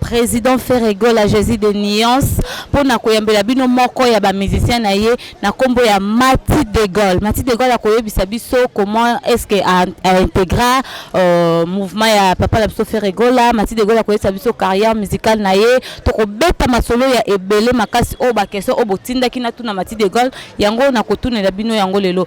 President Ferre Gola Jesus de Nuance mpo na koyambela bino moko ya ba musiciens na ye na nkombo ya Mati de Gaulle. Mati de Gaulle akoyebisa biso comment est-ce que a, a integra euh, mouvement ya papa na biso Ferre Gola. Mati de Gaulle akoyebisa biso carrière musicale na ye. Tokobeta masolo ya ebele makasi oyo ba question oyo botindaki na tuna Mati de Gaulle yango nakotunela bino yango lelo.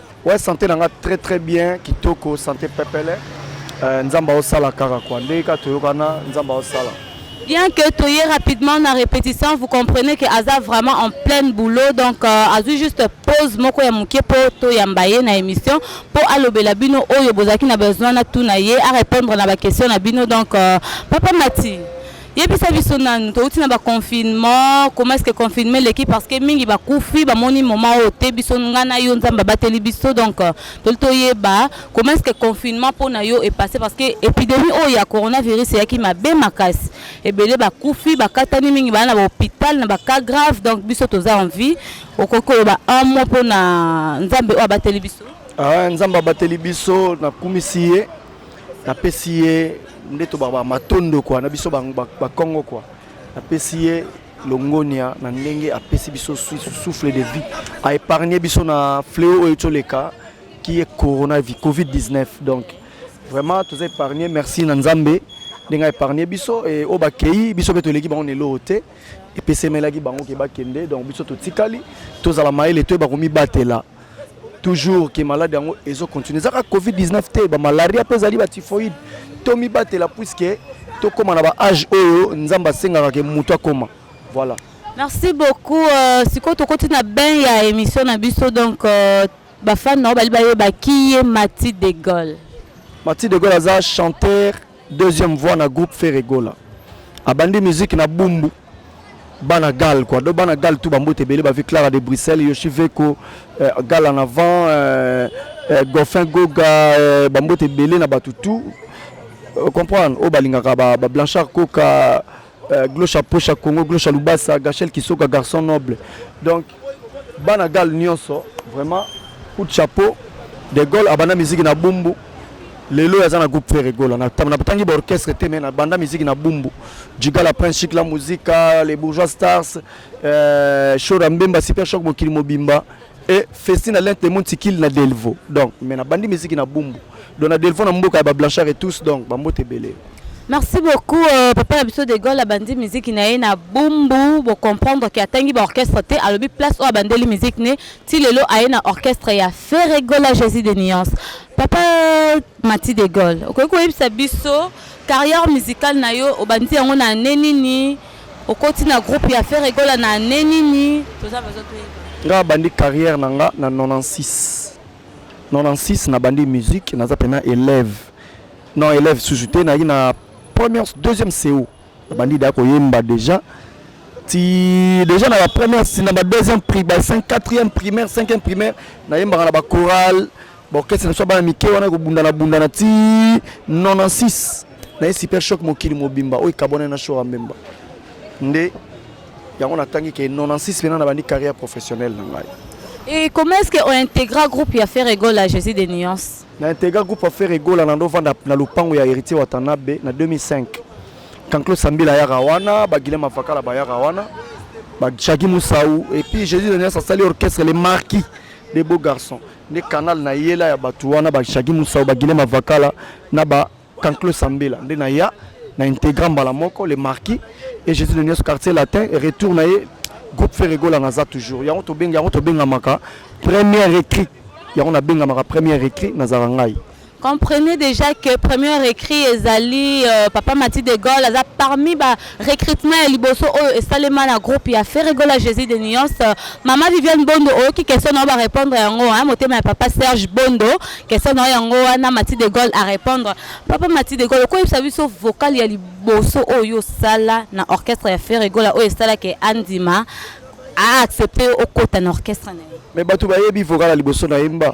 Ouais, santé nanga très très bien, kitoko, santé pepele. Euh, nzamba osala kaka quoi. Ndenge ka toyokana, nzamba osala. Bien que toye rapidement na répétition, vous comprenez que Aza vraiment en plein boulot, donc euh, azui juste pause moko ya muke po to yamba ye na émission po alobela bino oyo bozaki na besoin na tuna ye a répondre na ba questions na bino donc euh, papa Mati yebisa biso nanu touti na baconfinement comment est ce que confinement eleki parce que mingi bakufi bamoni moma oyo te biso ngai na yo nzambe abateli biso donc euh, toli toyeba comment est ce que confinement mpo na yo epasse parce que épidémie oyo ya coronavirus eyaki mabe makasi ebele bakufi bakatani mingi baa na bahôpital na bacas grave donc biso toza en vie okoki koloba un mot mpo na nzambe oyo abateli biso ah, nzambe abateli biso nakumisi ye napesi ye nde tobaka matondo kwa na biso bakongo kwa napesi ye longonia na ndenge apesi biso souffle de vie a épargné biso na fléau oyo toleka qui est corona covid 19 donc vraiment toza épargné merci na nzambe ndenge aépargne biso e oyo bakei biso mpe toleki bango na eloko te epesemelaki bango ke bakende donc biso totikali tozala mayele toyeba komibatela toujours ke malade yango ezo continue ezaka covid-19 te bamalaria mpe ezali batifoide tomibatela puiske tokóma na baage oyo nzambe asengaka ke moto akóma voilà merci beaucoup euh, sikoyo tokoti na bain ya émission na biso donc euh, bafane na yo bali bayeba ki ye mati de gaulle mati de gaulle aza chanteur Deuxième voix na groupe Ferre Gola. Abandi musique na Bumbu. Bana Gal quoi. Donc Bana Gal tout bambote belé ba Clara de Bruxelles, Yoshi Veko, euh, Gal en avant, euh, euh, Goffin Goga, euh, bambote belé na batu tout. Euh, comprendre. O balingaka ba, ba Blanchard Coca Euh, Glosha Posha Congo, Glosha Lubasa, Gachel Kisoka, garçon noble. Donc, Banagal Nyonso, vraiment, coup de chapeau. De Gaulle, Abana Musique na Bumbu. lelo aza na groupe ferre gola natangi baorchestre te me na banda miziki na bumbu jigala prince chic la musica les bourgeois stars euh, shora mbemba super choc mokili mobimba et Festina l'un témoin tikil na Delvaux donc mais na bandi musique na Bumbu donc na Delvaux na mboka ya ba Blanchard et tous donc ba mbote belé Merci beaucoup euh, papa na biso de Gaulle abandi musique na ye na Bumbu bo comprendre que atangi ba orchestre te alobi place oyo abandeli musique ne ti lelo aye na orchestre ya Ferre Gola Jésus de Nuance papa Mati de Gaulle okoki koyebisa biso carrière musicale na yo obandi yango na année nini Okoti na groupe ya Ferre Gola na annee nini? Toza besoin toyeba. Nga bandi carrière na nga na 96. 96 na bandi musique naza pena élève. Non élève susu te na na première deuxième CO. Na bandi da ko yemba déjà. Ti déjà na la première si na ba deuxième prix ba 5 quatrième primaire, cinquième primaire na yemba na ba chorale ba orchestre na biso bana mike wana ekobundana bundana ti 96 na ye super choc mokili mobimba oyo ekabwana na shora mbemba nde yango natangi ke 96 mpena na bandi carrière professionnelle na ngai Et comment est-ce qu'on intégra groupe ya Ferre Gola Jésus des nuances na intégra groupe ya Ferre Gola na ndovanda na lupango ya héritier Watanabe na 2005 Kanklo Sambila yaka wana ba Guilhem Afakala ba yaka wana ba Chaki Moussaou et puis Jésus des nuances asali orchestre les marquis des beaux garçons nde canal na yela ya bato wana ba Shaggy Musau ba Guilhem Avakala na ba Kanklo Sambela nde na ya na integra mbala moko le marquis et Jésus de Nios quartier latin et retour na ye groupe Ferregola naza toujours yango tobengi yango tobengamaka première écrit yango nabengamaka première écrit nazala ngai Comprenez déjà que premier recrit ezali euh, Papa Mati de Gaulle aza parmi ba recrutement ya liboso oyo esalema na groupe ya Ferregola Jésus de Nuance. Euh, Mama Viviane Bondo oyoki question na yo ba répondre yango hein, motema ya Papa Serge Bondo question na yo yango wana Mati de Gaulle à répondre. Papa Mati de Gaulle okoyebisa biso vocal ya liboso oyo osala na orchestre ya Ferregola oyo esalaki andima a accepter okota na orchestre na ye. Mais bato bayebi vocal ya liboso na yemba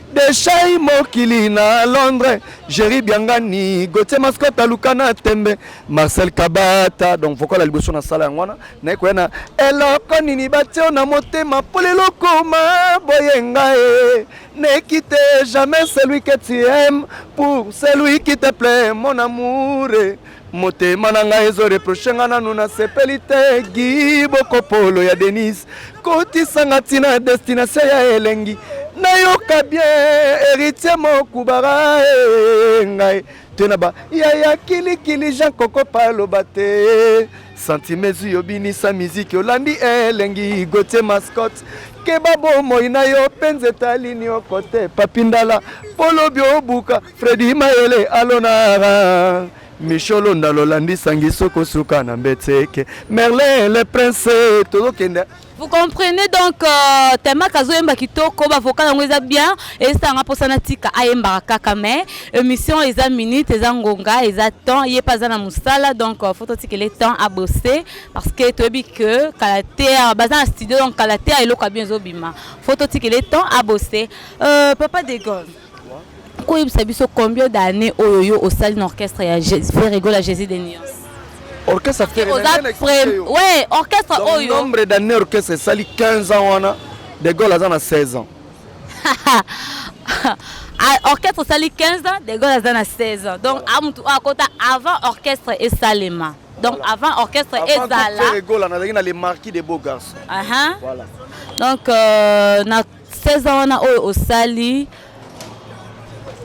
Deshai mokili na Londres, Jerry Biangani, Gauthier Mascota luka na tembe, Marcel Kabata. Donc vocal ya liboso na sala yango wana naye koya na eloko nini batio na motema mpo lelo koma boye ngai ne quitte jamais celui que tu aimes pour celui qui te plaît mon amour motema na ngai ezo reproche nga nanu nasepeli te gi bokopolo ya denise kotisanga ntina ya destination ya elengi nayoka bien héritier mokubara eh, ngai te na ba yaya kilikili jean kokopa aloba te santime ezwi obinisa miziki olandi elengi gotie mascotte keba bomoi na yo mpe nzeta lini okote papindala polobi obuka Freddy Mayele alonara Michel Ondalo landi sangi soko suka na mbetseke Merlin le prince tozokende Vous comprenez donc euh, Tema Kazo Emba Kitoko, ba vocal yango eza bien et ça nga posana tika ayemba kaka mais émission eza minute eza ngonga eza temps yé pas na musala donc euh, faut tika les temps à bosser parce que tu toyebi que kalatea baza na studio donc kalatea eloko bien zobima faut tika les temps à bosser euh, papa Degon koyebisa biso combien d'année oyo yo osali na orchestre ya ferrego la jésus de nuance orchestre ouais orchestre oyo nombre d'année orchestre esali 15 ans wana de gaulle aza na 16 ans ah, orchestre esali 15 ans de gaulle aza na 16 ans donc amutu oyo akota avant orchestre esalema donc voilà. avant orchestre ezala nazalaki na le marquis de beau garçon uh -huh. voilà. donc euh, na 16 ans wana oyo osali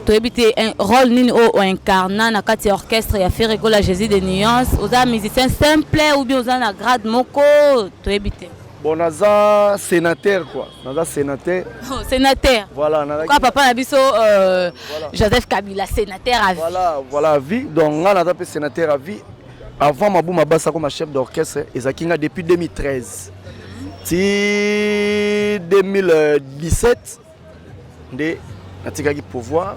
toyebi te role nini oyo o incarna na kati ya orchestre ya Ferre Gola Jésus de Nuance oza musicien simple ou bien oza na grade moko toyebi te bon naza sénateur quoi naza sénateur oh, sénateur voilà nazaka papa na biso euh, voilà. joseph kabila sénateur à vie voilà voilà à vie donc nga naza mpe sénateur à vie avant mabuma basa koma chef d'orchestre ezalaki nga depuis 2013 ti 2017 nde natikaki pouvoir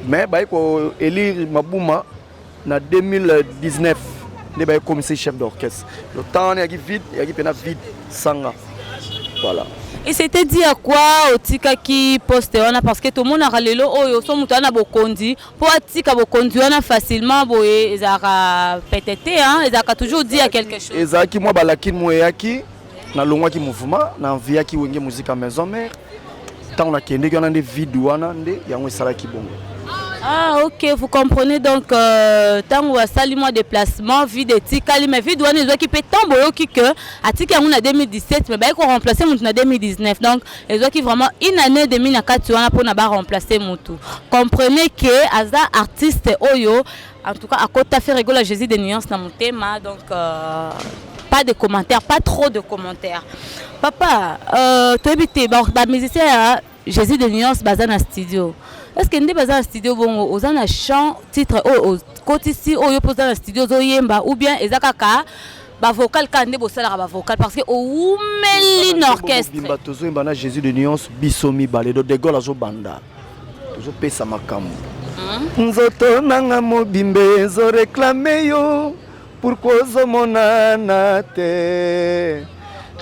mais baye ko élire mabuma na 2019 nde baye komisa chef d'orchestre le temps wana yaki vide yaki mpena vide sanga voilà et c'était dit à quoi otikaki poste wana parce que tomonaka lelo oyo so moto wana na bokonzi po atika bokonzi wana facilement boye ezalaka pete te ezalaka toujours dit ya quelque chose ezalaki mwa balakini mo eyaki nalongwaki mouvement na enviyaki wenge muzika maison mare ntango nakendeki wana nde vide wana nde yango esalaki bongo Ah, ok, vous comprenez donc, tant euh, tango asali moi déplacement, vide etikali, mais vide wana ezwaki pe tant boyoki que atiki yango na 2017, mais baye ko remplacer mutu na 2019. Donc, ezwaki vraiment une année demi na kati wana mpona ba remplacer mutu comprenez que aza artiste oyo en tout cas akota faire egola jésus de nuance na motema donc euh, pas de commentaires pas trop de commentaires papa euh, toyebi te bamusicien ba ya jésus de nuance baza na studio est ce que nde baza na studio bongo oza na chant titre oyo okotisi oyo mpo oza na studio ozoyemba ou bien eza kaka ba vocal kaka nde bosalaka ba vocal parce que owumeli na orchestre bimba tozoyemba na jésus de nuance biso mibale do de gaulle azobanda tozopesa makambo hmm? nzoto nanga mobimba ezoreklame yo pourkui ozomonana te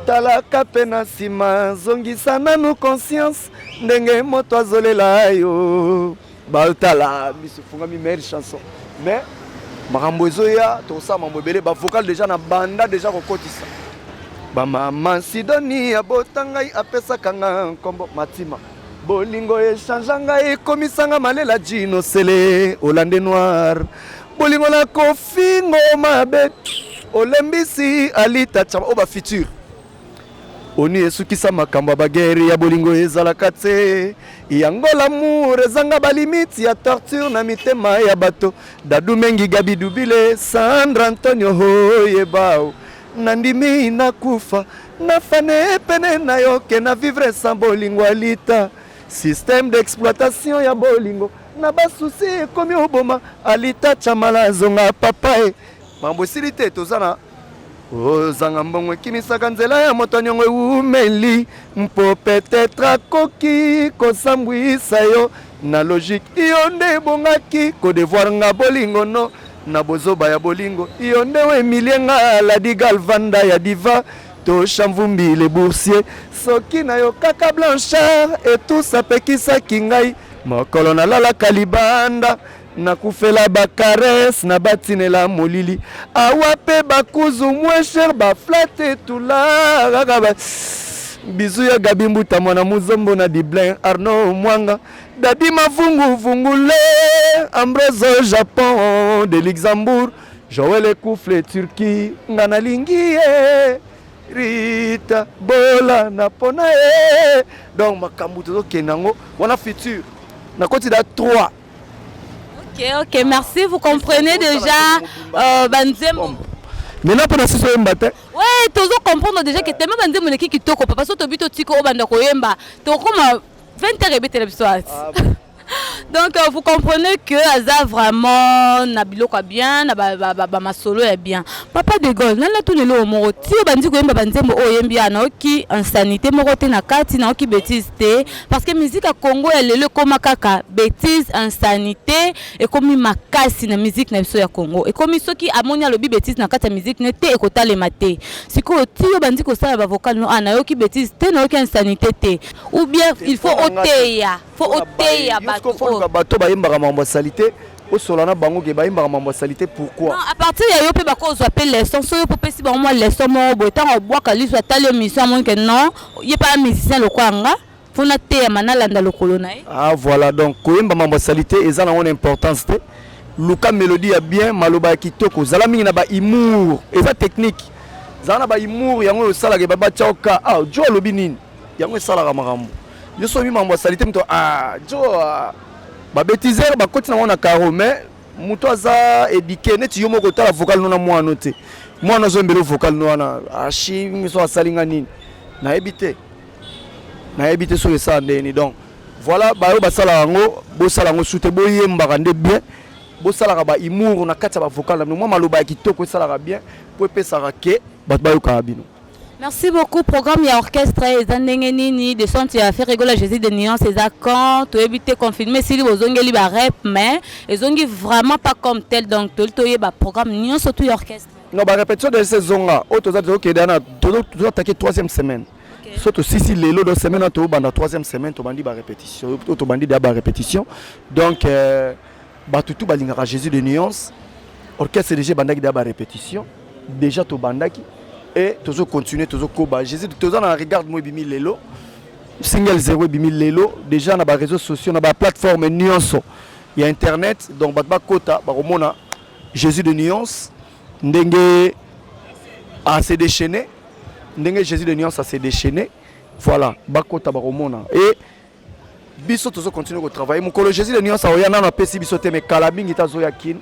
talaka mpe na nsima zongisa nanu conscience ndenge moto azolela yo Baotala miso efungami meilleure chanson mais makambo ezoya tokosala mambo ebele bavocal deja na banda deja kokotisa bamama sidoni abota ngai apesaka nga nkombo matima bolingo echangea ngai ekomisanga malela jino sele olande noir bolingo na kofingo mabe olembisi alita cama oyo bafuture onu esukisa makambo ya bagere ya bolingo ezalaka te yango lamour ezanga balimiti ya torture na mitema ya bato dadu mengi gabi dubile sandra antonio hoyebao nandimi nakufa nafane pene na yo ke na vivre sans bolingo alita système d'exploitation ya bolingo na basusi ekomi oboma alita chamala azonga papa e mambo esili te toza na ozanga mbongo ekimisaka nzela ya moto nyongo ewumeli mpo petetre akoki kosambwisa yo na logike iyo nde ebongaki kodevoir nga bolingo no na bozoba ya bolingo iyo nde wemilie nga ladi galvanda ya diva tosha mvumbi le boursier soki na yo kaka blanchard etusa apekisaki ngai mokolo nalalaka libanda nakufela ba caresse na batinela molili awa pe bakuzu moins cher ba flate tula kaka ba bizu ya gabi mbuta mwana muzombo na diblin arno mwanga dadi mavungu vungule ambroso japon de luxembourg joel ekufle turquie nga nalingi ye rita bola na pona ye donc makambo tozokende yango wana future nakoti da 3 Ok, ok, merci. Vous comprenez déjà euh, Banzembo Mais là, pendant ce soir, matin. Ouais, tu as comprendre déjà que tellement Banzembo n'est qui toko, parce que tu as vu tout au banda koyemba. Tu as comme 20 heures et bête la soirée. Donc euh, vous comprenez que aza vraiment na biloko bien, na ba, ba, ba, ba masolo ya bien. Papa de Gaulle, nana tout le lo moro. Ti bandi ko yemba banzembo o yembi ana oki insanité moko te na kati na oki bêtise te. parce que musique ya Congo ya lelo ekoma kaka bêtise insanité ekomi makasi na musique na biso ya Congo ekomi soki amoni alobi bêtise na kati ya musique ne te ekotalema te sikoyo tiyo bandi kosala ba vocal no ah nayoki bêtise te nayoki insanité te ou bien il faut oteya faut oteya bato bato bayembaka makambo ya salite osola na bango ke bayembaka mambo ya salite pourquoi non, à partir ya yo mpe bakozwa mpe leçon so yo mpe opesi bango mwa leçon moko boye ntango abwaka liso atali yo mission amoni ke non ye mpe a musicien lokola nga mpo nateyama nalanda lokolo na ye ah voilà donc koyemba mambo ya salite eza nango na importance te luka melodie ya bien maloba ya kitoko zala mingi na ba humour eza technique zala na ba humour yango oyo osalaka ebaba chaoka ah jo alobi nini yango esalaka makambo yo soki mambo ya salite moto ah jo ah. Ba betiser ba koti na wana caro mais muto aza eduquer neti yo moko tala vocal no na mwana te. Mwana zo mbelo vocal no wana ashi ah, miso asali nga nini? Na ebite. Na ebite so esa ndeni donc voilà bayo basala yango bosala yango sute boyembaka nde bien bosalaka ba humour na kati ya ba vocal na bino mwa maloba ya kitoko esalaka bien mpo epesaka ke bato bayokaka bino Merci beaucoup. Programme ya orchestre eza ndenge nini? Descente ya Ferre Gola Jésus de Nuance eza quand? Toyebi te confirmer sili bozongeli ba rep mais ezongi vraiment pas comme tel donc toli toyeba programme nyonso tout ya orchestre. Non ba répétition de saisonga oyo toza tozokende na tozatake troisième semaine so tosisi lelo do semaine oyo tobanda troisième semaine tobandi ba répétition oyo tobandi deya ba répétition donc euh, Batu tout balingaka Jesus de nuance. Orchestre déjà bandaki da ba répétition. Déjà to bandaki et tozo continuer tozo koba. Jesus toza na regarde moi bimi lelo. Single 0 ebimi lelo déjà na ba réseaux sociaux na ba plateforme nuance ya internet donc bato bakota bakomona Jésus de nuance ndenge à se déchaîner ndenge Jésus de nuance à se déchaîner voilà bakota bakomona et biso tozo continuer ko travailler mukolo Jésus le nuance oya nano apesi biso te mais kala mingi tazo ya kin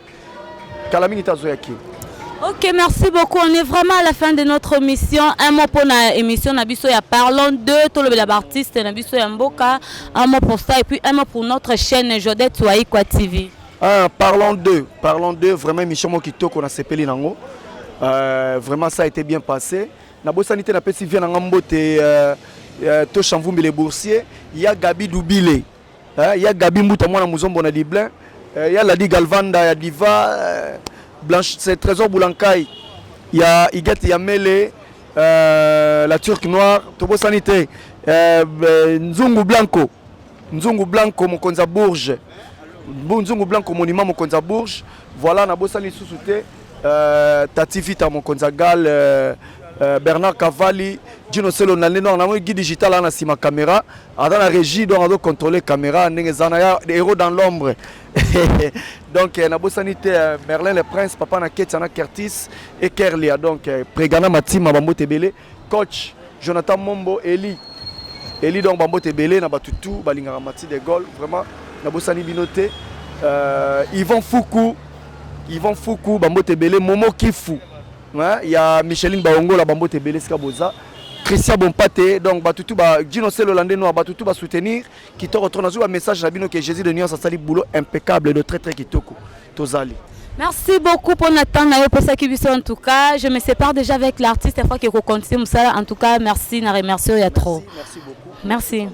kala mingi tazo ya kin Ok, merci beaucoup. On est vraiment à la fin de notre mission. Un mot pour la émission Nabiso ya Parlons de Tolobela Baptiste Nabiso ya Mboka. Un mot pour ça et puis un mot pour notre chaîne Jodette Waikwa TV. Ah, parlons de, parlons de vraiment émission Mokitoko na sepeli nango. Euh, vraiment ça a été bien passé. Nabosani te napesi vie na nga mbote to Shamvumbi le boursier ya Gabi Dubile ya Gabi Mbuta mwana muzombo na Dublin ya Ladi Galvanda ya Diva Blanche c'est Trésor Boulankai ya Igete ya Mele euh, la Turque Noire tobosani te euh, Nzungu Blanco Nzungu Blanco mokonzi ya Bourges Nzungu Blanco monument mokonzi ya Bourges voilà nabosani lisusu te Euh, Tati Vita mokonzi ya Gal euh, euh, Bernard Cavalli Dino Selo na lino na guide digital na sima caméra ada na régie donc ado contrôler caméra ndenge zana ya héros dans l'ombre donc euh, na bosani te euh, Merlin le prince papa na Ketia na Curtis et Kerlia donc euh, Pregana Matima bambote belé Coach Jonathan Mombo Eli Eli donc bambote ebele na bato tout balingaka Mati de Gaulle vraiment nabosani bino te euh, Yvan Fuku Yvan Fuku bambote ebele Momo Kifu hein, ya Micheline Baongola bambote ebele esika boza Christian Bompate donc bato tout ba Gino Selo lande noir bato tout ba soutenir Kitoko trop nazwi ba message na bino que Jésus de nuance asali boulot impeccable de très très kitoko tozali. Merci beaucoup pour notre temps nayo pesaki biso en tout cas je me sépare déjà avec l'artiste afin que ko continuer musala en tout cas merci na remercier ya trop. Merci, merci beaucoup. Merci.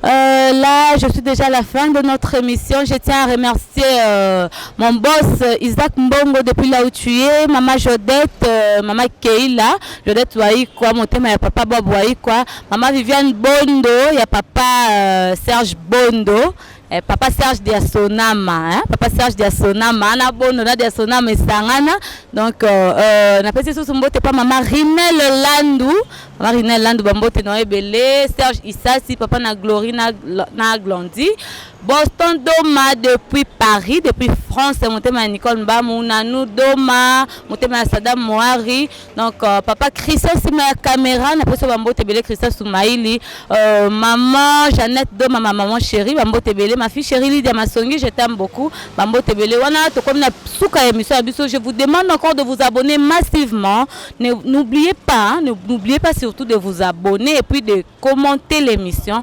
Euh, là, je suis déjà à la fin de notre émission. Je tiens à remercier euh, mon boss euh, Isaac Mbongo depuis là où tu es, Maman Jodette, euh, Maman Keila, Jodette Waïkwa, mon thème papa Bob Waïkwa, Maman Viviane Bondo, ya papa euh, Serge Bondo. Eh, papa Serge Diasonama, hein? papa Serge Diasonama, na Bondo na Diasonama esangana. Donc euh, euh, na pesi susu mbote pa mama Rinel Landu, mama Rinel Landu ba mbote na ebele, Serge Isasi, papa na Glory na na Glandi. Boston Doma depuis Paris, depuis France, motema ya Nicole Mbamu, Nanou Doma, motema ya Sadam Moari. Donc euh, papa Christian sima ya caméra na poso ba mbote belé Christian Soumaïli euh, maman Jeannette do maman maman chérie ba mbote belé ma fille chérie Lydia Masongi je t'aime beaucoup ba mbote belé wana to comme na suka émission biso je vous demande encore de vous abonner massivement n'oubliez pas hein, n'oubliez pas surtout de vous abonner et puis de commenter l'émission